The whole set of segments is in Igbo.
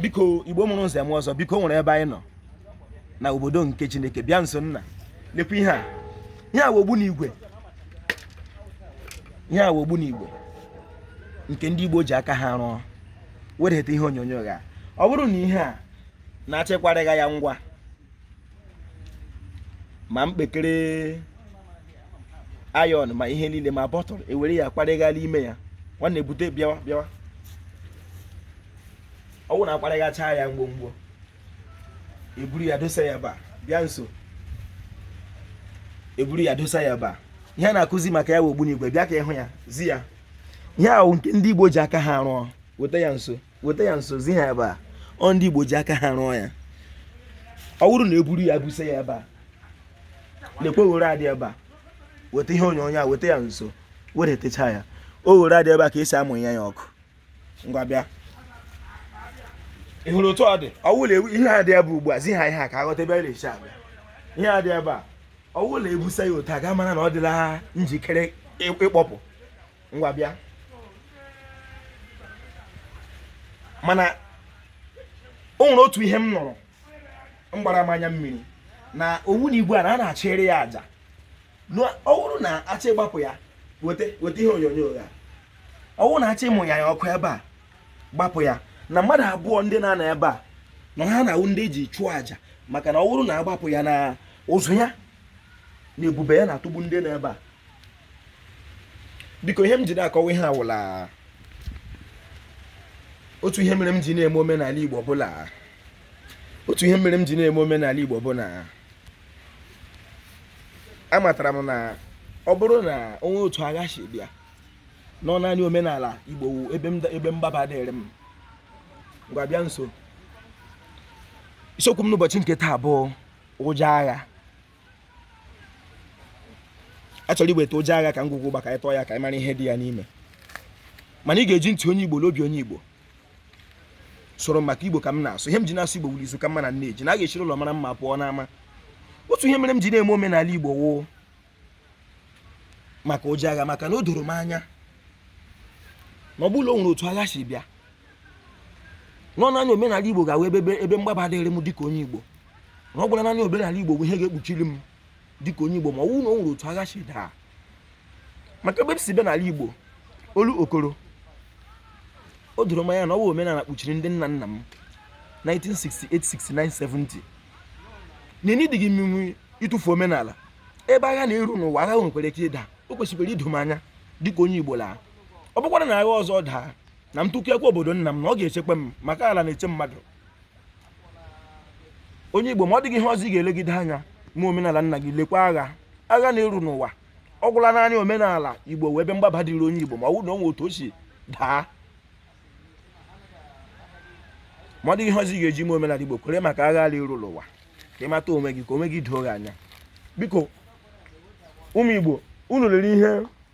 biko igbo mụrụ nze mụọ ọzọ biko o nwere ebe anyị nọ na obodo nke chineke bịa nso nna lekwa ihe a ihe a wụ ogbunigwe ihe a wụ ogbunigwe nke ndị igbo ji aka ha rụọ wedata ihe onyonyo gha ọ bụrụ na ihe a na-achọ ịkwarịgha ya ngwa ma mkpekere iron ma ihe niile ma bottle e were ya kwarịgha la ime ya nwanne bute bịawa bịawa ọ wụ na a kwarịghacha ya ngwongwo e buru ya dosa ya ebe a bịa nso e buru ya dosa ya ebe a ihe a na-akụzi maka ya bụ ogbunigwe bịa ka ị hụ ya zi ya ihe ahụ nke ndị Igbo ji aka ha rụọ weta ya nso weta ya nso zi ha ebe a ọ ndị Igbo ji aka ha rụọ ya ọ bụrụ na e buru ya busa ya ebe a lekwe oghere a dị ebe a weta ihe onyonyo a weta ya nso weretecha ya oghere a dị ebe a ka e si amụya ya ọkụ ngwa bịa ị hụrụ otu ọ dị ọ wụ la ihe a dị ebe ugbu a zi ha ihe a ka a ghọta ebe a na-esi abịa ihe a dị ebe a ọ wụrụ la e busa ya otu a ị ga-amara na ọ dịla njikere ịkpọpụ ngwa bịa mana o nwere otu ihe m nụrụ gbara m anya mmiri na ogbunigwe a na a na-achụrụ ya aja ọ bụrụ na a chọ ịgbapụ ya weta ihe onyonyo ya ọ bụrụ na a chọ ịmụya ya ọkụ ebe a gbapụ ya na mmadụ abụọ ndị na-anọ ebe a na ha na-awụ ndị e ji chụọ aja maka na ọ bụrụ na a gbapụ ya na ụzụ ya na ebube ya na-atụgbu ndị nọ ebe a because ihe m ji na-akọwa ihe a wụ la otu ihe mere m ji na-eme omenala Igbo bụ la otu ihe mere m ji na-eme omenala Igbo bụ na amatara m na ọ bụrụ na o nwee otu agha si bịa na ọ naanị omenala Igbo ebe mgbaba dịrị m ngwa bịa nso isiokwu m n'ụbọchị nke taa bụ ụjọ agha a chọrọ iweta ụjọ agha ka ngwugwu gba aka ịtọ ya ka ị mara ihe dị ya n'ime mana ị ga-eji ntị onye igbo na obi onye igbo soro maka igbo ka m na-asụ ihe m ji na-asụ igbo wụ la izu ka mma na nne ji na a ga-esi n'ụlọ mara mma pụọ n'ama otu ihe mere m ji na-eme omenala igbo wụ maka ụjọ agha maka na o doro m anya na ọ bụ la o nwere otu agha si bịa na ọ naanị omenala igbo ga-awụ ebe ebe mgbaba dịrị m dịka onye igbo na ọ gwara naanị omenala igbo bụ ihe ga-ekpuchiri m dịka onye igbo ma ọ wụ na o nwere otu agha si daa maka ebe m si bịa n'ala igbo olokoro o doro m anya na ọ bụ omenala kpuchiri ndị nna nna m 1968 69 70 na enyi dịghị mma ịtụfu omenala ebe agha na-eru n'ụwa agha nwekwara ike ịda o kwesịkwara ido m anya dịka onye igbo la ọ bụkwara na agha ọzọ daa na m tụkekwa obodo nna m na ọ ga-echekwa m maka ala na-eche mmadụ onye igbo ma ọ dịghị ihe ọzọ ị ga-elegide anya ma omenala nna gị lekwa agha agha na-eru n'ụwa ọ gwụla naanị omenala igbo wụ ebe mgbaba dịrị onye igbo ma ọ bụrụ na o nwe otu o si daa ma ọ dịghị ihe ọzọ ị ga-eji mee omenala igbo kwere maka agha na-eru n'ụwa ka ị mata onwe gị ka onwe gị doo gị anya biko ụmụ igbo unu lere ihe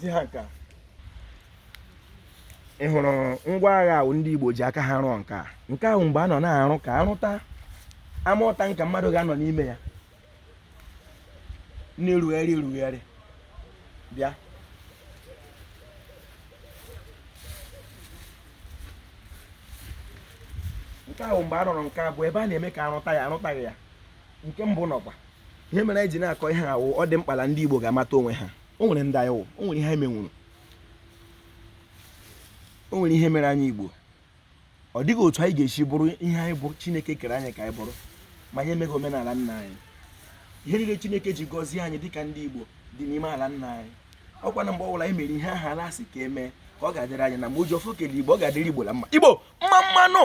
di ha nke a ị hụrụ ngwa agha ahụ ndị Igbo ji aka ha rụọ nke a nke ahụ mgbe a nọ na-arụ ka a rụta armoured tanker mmadụ ga-anọ n'ime ya na-erugharị erugharị bịa nke ahụ mgbe a rụrụ nke abụọ ebe a na-eme ka a rụta ya a rụtaghị ya nke mbụ nụkwa ihe mere anyị ji na-akọ ihe a wụ ọ dị mkpa na ndị Igbo ga-amata onwe ha o nwere ndị anyị wụ o nwere ihe anyị menwuru o nwere ihe mere anyị Igbo ọ dịghị otu anyị ga-esi bụrụ ihe anyị bụ chineke kere anyị ka anyị bụrụ ma anyị emeghị omenala nna anyị ihe niile chineke ji gọzie anyị dịka ndị igbo dị n'ime ala nna anyị ọkwa na mgbe ọbụla anyị mere ihe aha ala sị ka e mee ka ọ ga-adịrị anyị na mma o ji ọfọ kele igbo ọ ga-adịrị igbo na mma igbo mma mma nụ